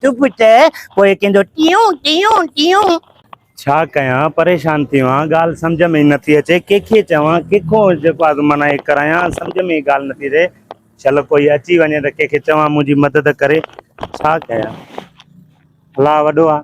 چپ ته پوء ڪنهن جو ٽيون ٽيون ٽيون. ڇا ڪيان پريشان ٿي ويو آهيان ڳالهه سمجهه ۾ ئي نٿي اچي ڪيکي چوان ڪيکو جيڪو آهي سو معنيٰ ئي ڪرايان سمجهه ۾ ئي ڳالهه نٿي رهي شل ڪوئي اچي وڃي ته ڪيکي چوان منهنجي مدد ڪري ڇا ڪيان الله وڏو آهي.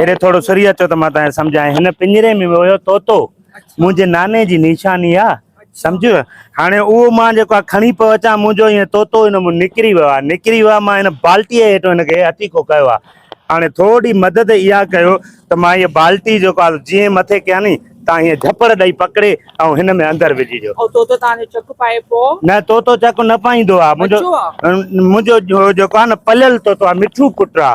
اڙي ٿورو سري اچو ته مان تنهن سمجهائين هن پڃري ۾ ويو طوطو منهنجي ناني جي نيشاني آ سمجهيو هاڻي اهو مان جيڪو آ کڻي پيو اچان منهنجو هي طوطو هن مون نڪري ويو آ نڪري ويو آ مان هن بالٽي هيٺ هن کي هٿيڪو ڪيو آ هاڻي ٿورڙي مدد اها ڪيو ته مان هي بالٽي جيڪو آ جيئن مٿي ڪيان ني تان هي جهپڙ ڏئي پڪڙي ۽ هن ۾ اندر وجهي جو او طوطو تان جو چڪ پائي پو نه طوطو چڪ نه پائيندو آ منهنجو منهنجو جيڪو آ نه پليل طوطو آ مٺو پٽ آ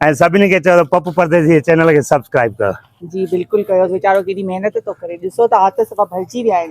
۽ سڀني کي چئو ته پپ پرديسي جي چينل کي سبسڪرائيب ڪيو. جي بلڪل ڪيو ويچارو ڪيڏي محنت ٿو ڪري ڏسو ته هٿ صفا ڀرجي ويا آهن.